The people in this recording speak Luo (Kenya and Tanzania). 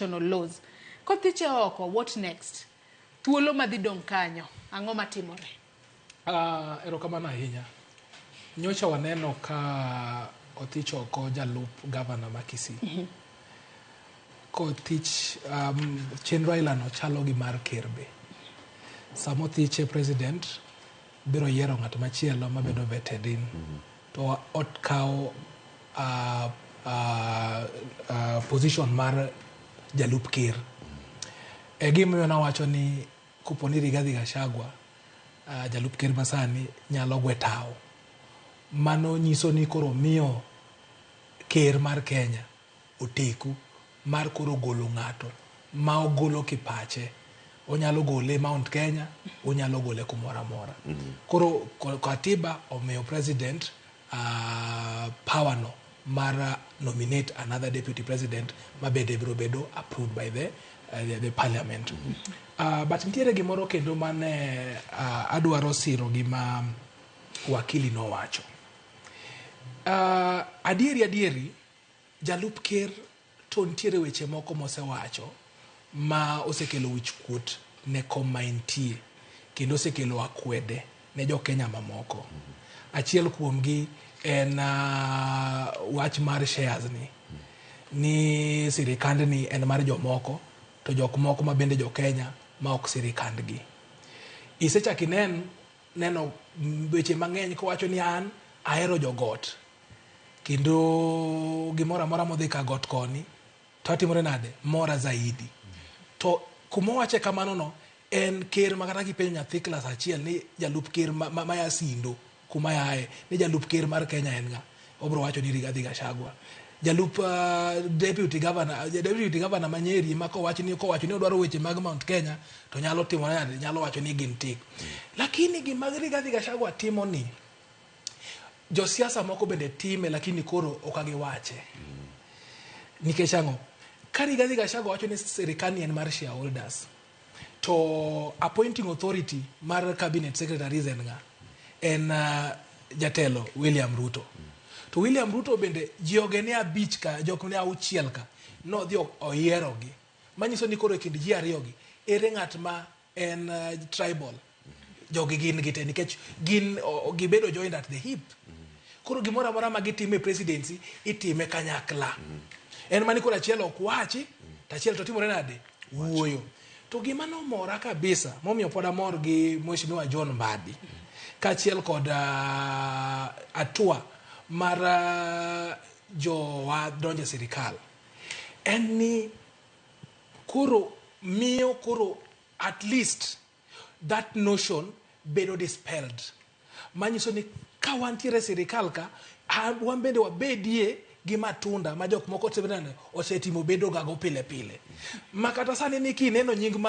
international laws. Kothiche oko, what next? Thuolo madhi dong' kanyo, ang'o matimore? Ah, erokamano ahinya. Nyocha waneno ka othich oko jalup gavana ma Kisii. Mhm. Kothich um, chenro ailano chalo gi mar ker be. Sama othiche president biro yiero ng'at machielo mabedo vetted in. Mm -hmm. to okawo position mar jalup ker. E gimomiyo nawacho ni kopo ni Rigathi Gachagua jalup ker masani nyalo gwe tawo, mano nyiso ni koro miyo ker mar Kenya oteku mar koro golo ng'ato ma ogolo kipache onyalo gole e Mount Kenya onyalo gole kumoro amora koro ko- katiba omiyo president uh, power no mar uh, nominate another deputy president mabende biro bedo approved by the, uh, the, the parliament uh, but nitiere gimoro kendo mane uh, adwaro siro gima wakili nowacho uh, adieri adieri Jalup ker to nitiere weche moko mosewacho ma osekelo wich kuot ne kom ma entie kendo osekelo akwede ne jo Kenya mamoko. Achiel kuomgi en uh, wach mar shares ni ni sirikand ni en mar jomoko to jok moko ma bende jo Kenya ma ok sirikandgi. Isechak inen neno weche mang'eny kowacho ni an ahero jogot kendo gimoro amora modhi ka got koni to atimore nade mora zaidi to kumowache kamano no en ker ma kata kipenjo nyathi klas achiel ni jalup ker ma, ma, ma yasindo kuma yaye ni jalup ker mar kenya en ng'a Obro wacho ni Rigathi Gachagua jalup uh, deputy governor uh, deputy governor Manyeri ma kowacho ni kowacho ni odwaro weche mag Mount Kenya to nyalo timo nade nyalo wacho ni gin tik mm. lakini gima Rigathi Gachagua timo ni josiasa moko bende time lakini koro ok agiwache mm. nikech ang'o ka Rigathi Gachagua wacho ni sirikani en mar shareholders To appointing authority mar cabinet secretaries en nga? En uh, jatelo William Ruto. To William Ruto bende jioge ne abich ka, jok ne auchiel ka, nodhi oyierogi. Manyiso ni koro e kind ji ariyogi, ere ng'at ma en uh, tribal jogi gin gite nikech gin gibedo joined at the hip koro gimoro amora ma gitime presidency itime kanyakla en mani koro achiel ok wachi to achiel to timore nade wuoyo to gima nomora kabisa momiyo pod amor gi mheshimiwa john mbadi kaachiel kod uh, atua mar uh, jowa donje sirikal en ni koro miyo koro at least That notion bedo dispelled. Manyiso ni ka wantiere e sirikal ka, a- wan bende wabedie gi matunda ma jok moko osetimo bedogago pile pile. Ma kata sani ni kineno nying mar